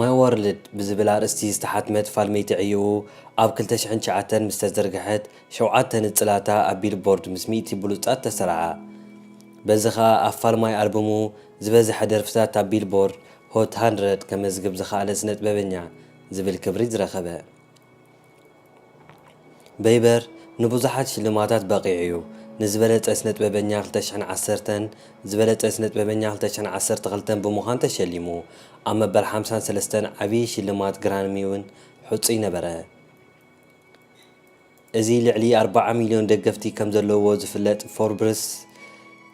My World ብዝብል ኣርእስቲ ዝተሓትመት ፋልመይቲ ዕዮኡ ኣብ ክልተ ሽሕን ትሽዓተን ምስ ተዘርግሐት፣ ሸውዓተ ንጽላታ ኣብ ቢልቦርድ ምስ ሚእቲ ብሉጻት ተሰርዓ። በዚ ከኣ ኣብ ፋልማይ ኣልቡሙ ዝበዝሐ ደርፍታት ኣብ ቢልቦርድ ሆት ሃንድረድ ከመዝግብ ዝኸኣለ ስነጥበበኛ ዝብል ክብሪ ዝረኸበ። በይበር ንብዙሓት ሽልማታት በቒዑ'ዩ፣ ንዝበለጸ ስነጥበበኛ ክልተ ሽሕን ዓሰርተን፣ ዝበለጸ ስነጥበበኛ ክልተ ሽሕን ዓሰርተ ክልተን ብምዃን ተሸሊሙ፣ ኣብ መበል ሓምሳን ሰለስተን ዓብዪ ሽልማት ግራሚ'ውን ሕጹይ ነበረ። እዚ ልዕሊ ኣርባዓ ሚልዮን ደገፍቲ ከም ዘለዉዎ ዝፍለጥ ፎርብስ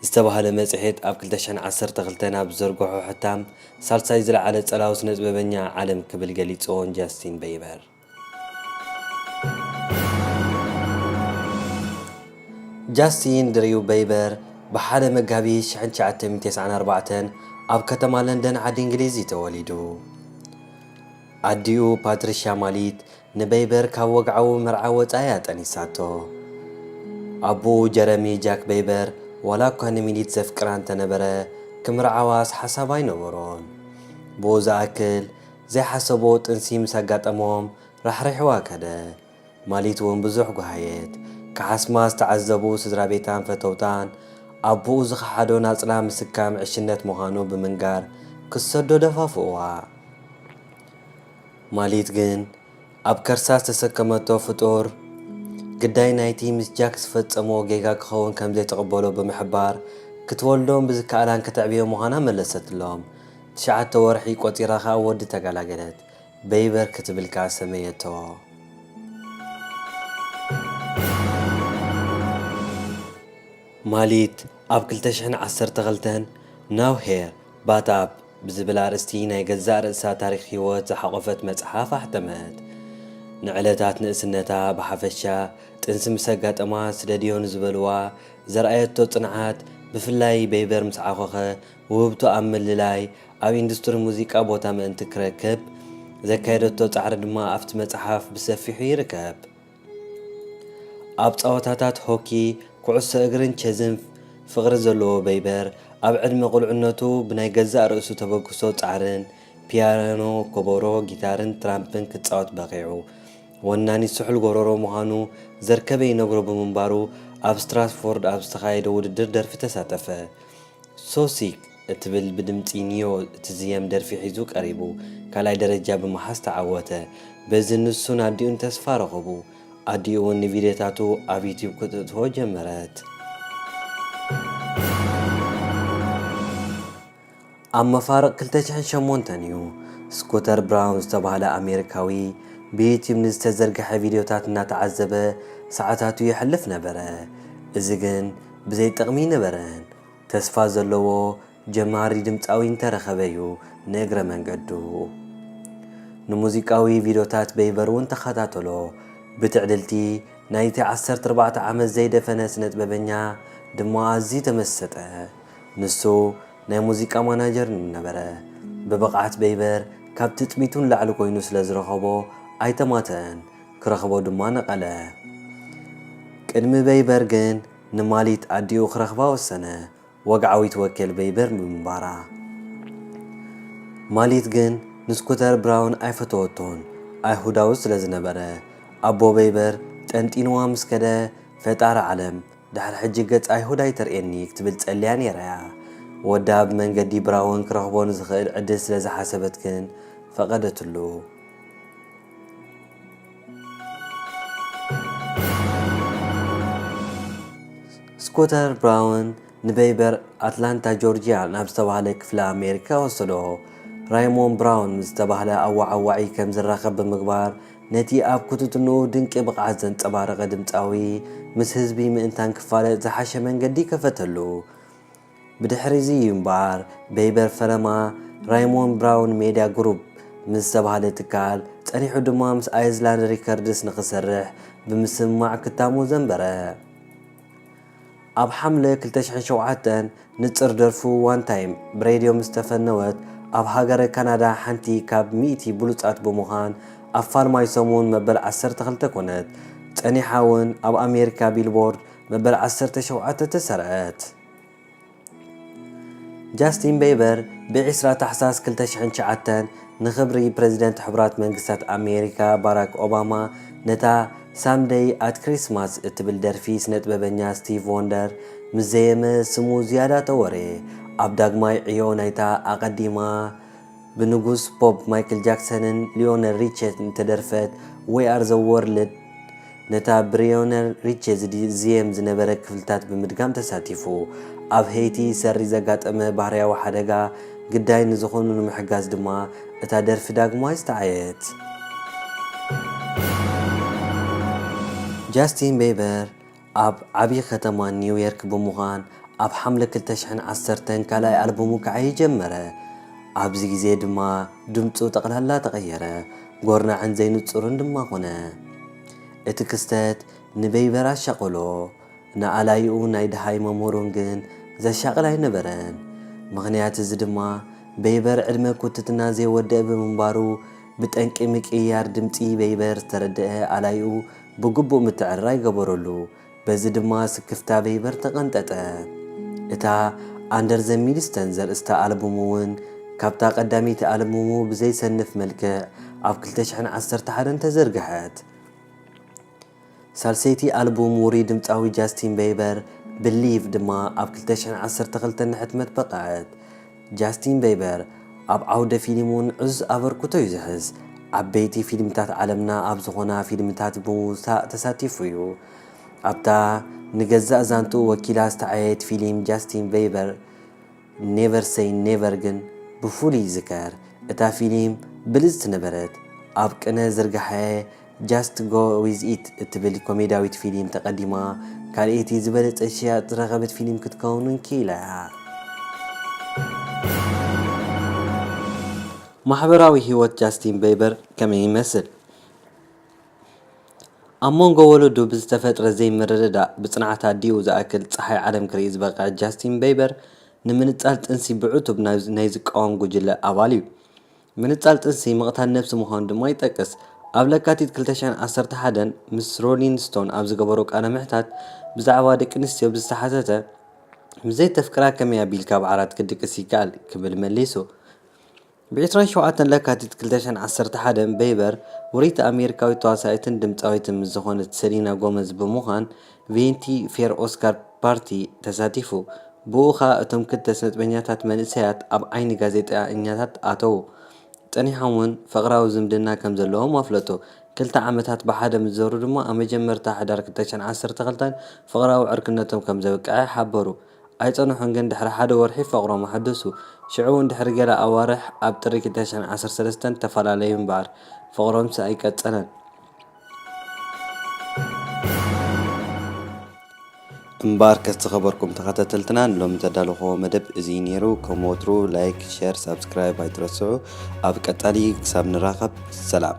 ዝተባህለ መጽሔት ኣብ ክልተ ሽሕን ዓሰርተ ክልተን ኣብ ዝዘርግሖ ሕታም፣ ሳልሳይ ዝለዓለ ጸላዊ ስነጥበበኛ ዓለም ክብል ገሊጽዎን ጃስቲን በይበር። ጃስቲን ድሪው በይበር ብ ሓደ መጋቢት ሽሕን ትሽዓተ ሚእትን ተስዓን ኣርባዕተን ኣብ ከተማ ለንደን ዓዲ እንግሊዝ እዩ ተወሊዱ። ኣዲኡ ፓትሪሽያ ማሊት ንበይበር ካብ ወግዓዊ መርዓ ወጻኢ እያ ጠኒሳቶ። ኣቦኡ ጀረሚ ጃክ በይበር ዋላ እኳ ንሚሊት ዘፍቅራ እንተነበረ፣ ክምርዓዋስ ሓሳብ ኣይነበሮን። ብኡ ዝኣክል፣ ዘይሓሰብዎ ጥንሲ ምስ ኣጋጠሞም ራሕሪሕዋ ከደ። ማሊት እውን ብዙሕ ጓሃየት። ክሓስማ ዝተዓዘቡ ስድራቤታን ፈተውታን፣ ኣቦኡ ዝኸሓዶ ናጽላ ምስካም ዕሽነት ምዃኑ ብምንጋር ክትሰዶ ደፋፍእዋ። ማሊት ግን ኣብ ከርሳ ዝተሰከመቶ ፍጡር ግዳይ ናይቲ ምስ ጃክ ዝፈጸሞ ጌጋ ክኸውን ከምዘይትቕበሎ ብምሕባር ክትወልዶን ብዝከኣላን ከተዕብዮ ምዃና መለሰትሎም። ትሽዓተ ወርሒ ቆጺራ ከኣ ወዲ ተጋላገለት። በይበር ክትብል ከኣ ሰመየቶ። ማሊት ኣብ ክልተ ሽሕን ዓሰርተ ክልተን Now Here፣ But Up ብዝብል ኣርእስቲ ናይ ገዛእ ርእሳ ታሪኽ ህይወት ዝሓቖፈት መጽሓፍ ኣሕተመት። ንዕለታት ንእስነታ ብሓፈሻ፣ ጥንሲ ምስ ኣጋጠማ ስደድዮ ንዝበልዋ ዘርኣየቶ ጽንዓት፣ ብፍላይ በይበር ምስ ዓኾኸ፣ ውህብቶ ኣብ ምልላይ፣ ኣብ ኢንዱስትሪ ሙዚቃ ቦታ ምእንቲ ክረክብ ዘካየደቶ ጻዕሪ ድማ ኣብቲ መጽሓፍ ብሰፊሑ ይርከብ። ኣብ ጸወታታት ሆኪ፣ ኩዕሶ እግርን ቸዝን ፍቕሪ ዘለዎ በይበር፣ ኣብ ዕድመ ቁልዕነቱ ብናይ ገዛእ ርእሱ ተበግሶ ጻዕርን፣ ፒያኖ፣ ኮቦሮ፣ ጊታርን ትራምፕን ክጻወት በቒዑ። ወናኒ ስሑል ጎረሮ ምዃኑ ዘርከበ ይነግሮ ብምንባሩ፣ ኣብ ስትራትፎርድ ኣብ ዝተኻየደ ውድድር ደርፊ ተሳተፈ። So Sick እትብል ብድምጺ ኒዮ እትዝየም ደርፊ ሒዙ ቀሪቡ ካልኣይ ደረጃ ብምሓዝ ተዓወተ። በዚ ንሱን ኣዲኡን ተስፋ ረኸቡ። ኣዲኡ'ውን ንቪድዮታቱ ኣብ ዩትዩብ ክተእትዎ ጀመረት። ኣብ መፋርቕ ክልተ ሽሕን ሸሞንተን እዩ፣ ስኩተር ብራውን ዝተባህለ ኣሜሪካዊ ብዩትዩብ ንዝተዘርግሐ ቪድዮታት እናተዓዘበ ሰዓታቱ የሕልፍ ነበረ። እዚ ግን ብዘይጥቕሚ ነበረን ተስፋ ዘለዎ ጀማሪ ድምጻዊ እንተረኸበ'ዩ ንእግረ መንገዱ ንሙዚቃዊ ቪድዮታት በይቨር'ውን ተኸታተሎ ብትዕልልቲ ናይቲ ዓሰርተ ኣርባዕተ ዓመት ዘይደፈነ ስነጥበበኛ ድማ ኣዝዩ ተመሰጠ ንሱ ናይ ሙዚቃ ማናጀር ነበረ ብብቕዓት በይቨር ካብ ትጽቢቱ ንላዕሊ ኮይኑ ስለዝረኸቦ ኣይተማተኣን ክረኽቦ ድማ ነቐለ። ቅድሚ በይበር ግን ንማሊት ኣዲኡ ክረኽባ ወሰነ፣ ወግዓዊት ወኪል በይበር ብምንባራ። ማሊት ግን ንስኩተር ብራውን ኣይፈተወቶን፣ ኣይሁዳዊ ስለ ዝነበረ። ኣቦ በይበር ጠንጢንዋ ምስ ከደ፣ ፈጣሪ ዓለም፣ ድሕሪ ሕጂ ገጽ ኣይሁድ ኣይተርእየኒ ክትብል ጸልያ ነይራ'ያ። ወዳ ብመንገዲ ብራውን ክረኽቦ ንዝኽእል ዕድል ስለ ዝሓሰበት ግን ፈቐደትሉ። ስኮተር ብራውን ንበይበር ኣትላንታ ጆርጅያ ናብ ዝተባህለ ክፍለ ኣሜሪካ ወሰዶ። ራይሞን ብራውን ምስ ዝተባህለ ኣዋዓዋዒ ከም ዝራኸብ ብምግባር ነቲ ኣብ ኩትትንኡ ድንቂ ብቕዓት ዘንጸባረቐ ድምጻዊ ምስ ህዝቢ ምእንታን ክፋለጥ ዝሓሸ መንገዲ ከፈተሉ። ብድሕሪ'ዚ እዩ እምበኣር በይበር ፈረማ ራይሞን ብራውን ሜድያ ግሩፕ ምስ ዝተባህለ ትካል፣ ጸኒሑ ድማ ምስ ኣይዝላንድ ሪከርድስ ንኽሰርሕ ብምስምማዕ ክታሙ ዘንበረ። ኣብ ሓምለ ክልተ ሽሕን ሸውዓተን፣ ንጽር ደርፉ ዋን ታይም ብሬድዮ ምስ ተፈነወት፣ ኣብ ሃገረ ካናዳ ሓንቲ ካብ ሚእቲ ብሉጻት ብምዃን ኣብ ፋልማይ ሰሙን መበል ዓሰርተ ክልተ ኮነት። ጸኒሓ'ውን ኣብ ኣሜሪካ ቢልቦርድ መበል ዓሰርተ ሸውዓተ ተሰርዐት። ጃስቲን ቤበር ብ ዕስራ ታሕሳስ ክልተ ሽሕን ትሽዓተን ንኽብሪ ፕረዚደንት ሕቡራት መንግስታት ኣሜሪካ ባራክ ኦባማ ነታ ሳም ደይ ኣት ክሪስማስ እትብል ደርፊ ስነጥበበኛ ስቲቭ ዎንደር ምስ ዘየመ ስሙ ዝያዳ ተወርየ ኣብ ዳግማይ ዕዮ ናይታ ኣቐዲማ ብንጉስ ፖፕ ማይክል ጃክሰንን ሊዮነል ሪቸን እተደርፈት We Are The World ነታ ብሪዮነል ሪቸ ዝዝየም ዝነበረ ክፍልታት ብምድጋም ተሳቲፉ። ኣብ ሄይቲ ሰሪ ዘጋጠመ ባህርያዊ ሓደጋ ግዳይ ንዝኾኑ ንምሕጋዝ ድማ እታ ደርፊ ዳግማይ ዝተዓየት። ጃስቲን ቤበር ኣብ ዓብዪ ከተማ ኒውየርክ ብምዃን ኣብ ሓምለ ክልተ ሽሕን ዓሰርተን ካልኣይ ኣልቡሙ ክዓዪ ጀመረ። ኣብዚ ግዜ ድማ ድምጹ ጠቕላላ ተቐየረ፣ ጎርናዕን ዘይንጹርን ድማ ኮነ። እቲ ክስተት ንቤይበር ኣሻቐሎ፣ ንኣላዪኡን ናይ ደሃይ መምህሩን ግን ዘሻቕል ኣይነበረን። ምኽንያት እዚ ድማ ቤይበር ዕድመ ኩትትና ዘይወደኣ ብምንባሩ ብጠንቂ ምቅይያር ድምጺ ቤይበር ዝተረደኣ ኣላዪኡ ብግቡእ ምትዕርራይ ገበረሉ፣ በዚ ድማ ስክፍታ ቬይበር ተቐንጠጠ። እታ ኣንደር ዘ ሚልስተን ዘርእስታ ኣልቡም'ውን ካብታ ቀዳመይቲ ኣልቡሙ ብዘይሰንፍ መልክዕ ኣብ ክልተ ሽሕን ዓሰርተ ሓደን ተዘርግሐት። ሳልሰይቲ ኣልቡም ውሩይ ድምጻዊ ጃስቲን ቬይበር፣ ብሊቭ፣ ድማ ኣብ ክልተ ሽሕን ዓሰርተ ክልተን ንሕትመት በቕዐት። ጃስቲን በይበር ኣብ ዓውደ ፊልም እውን ዕዙዝ ኣበርክቶ እዩ ዝሕዝ። ዓበይቲ ፊልምታት ዓለምና ኣብ ዝኾና ፊልምታት ብምውጻእ ተሳቲፉ እዩ። ኣብታ ንገዛእ ዛንትኡ ወኪላ ዝተዓየየት ፊልም ጃስቲን በይበር ኔቨር ሰይ ኔቨር ግን ብፍሉይ ይዝከር። እታ ፊልም ብልጽቲ ነበረት። ኣብ ቅነ ዝርግሐ Just Go With It እትብል ኮሜድያዊት ፊሊም ተቐዲማ ካልኣይቲ ዝበለጸት ሽያጥ ዝረኸበት ፊሊም ክትከውን እውን ክኢላ እያ። ማሕበራዊ ህይወት ጃስቲን በይበር ከመይ ይመስል? ኣብ መንጎ ወለዱ ብዝተፈጥረ ዘይምርድዳእ ብጽንዓት ኣዲኡ ዝኣክል ጸሓይ ዓለም ክርኢ ዝበቕዐ ጃስቲን በይበር፣ ንምንጻል ጥንሲ ብዕቱብ ናይ ዝቃወም ጉጅለ ኣባል እዩ። ምንጻል ጥንሲ ምቕታል ነብሲ ምዃኑ ድማ ይጠቅስ። ኣብ ለካቲት ክልተ ሽሕን ዓሰርተ ሓደን ምስ ሮሊን ስቶን ኣብ ዝገበሮ ቃለ ምሕታት ብዛዕባ ደቂ ኣንስትዮ ብዝተሓተተ ምስ ዘይተፍቅራ ከመይ ኣቢልካ ኣብ ዓራት ክድቅስ ይከኣል ክብል መሊሱ። ብ ዕስራን ሸውዓተን ለካቲት ክልተ ሽሕን ዓሰርተ ሓደን ቤይበር ውርይቲ ኣሜሪካዊት ተዋሳኢትን ድምጻዊትን ምስ ዝኾነት ሰሊና ጎመዝ ብምዃን ቬንቲ ፌር ኦስካር ፓርቲ ተሳቲፉ። ብኡ ከኣ እቶም ክልተ ስነጥበኛታት መንእሰያት ኣብ ዓይኒ ጋዜጠኛታት ኣተዉ። ጸኒሖም ውን ፍቕራዊ ዝምድና ከም ዘለዎም ኣፍለጡ። ክልተ ዓመታት ብሓደ ምስ ዘሩ ድማ ኣብ መጀመርታ ሕዳር ክልተ ሽሕን ዓሰርተ ክልተን ፍቕራዊ ዕርክነቶም ከም ዘብቅዐ ሓበሩ። ኣይጸንሑን ግን ድሕሪ ሓደ ወርሒ ፍቕሮም ኣሐደሱ። ሽዑ ውን ድሕሪ ገለ ኣዋርሕ ኣብ ጥሪ ክልተ ሽሕን ዓሰርተ ሰለስተን ተፈላለዩ ምበኣር ፍቕሮምሲ ኣይቀጸለን። እምባር ከ ዝተኸበርኩም ተኸታተልትና ንሎሚ ዘዳለኹዎ መደብ እዚ ነይሩ ከም ወትሩ ላይክ ሸር ሳብስክራይብ ኣይትረስዑ ኣብ ቀጣሊ ክሳብ ንራኸብ ሰላም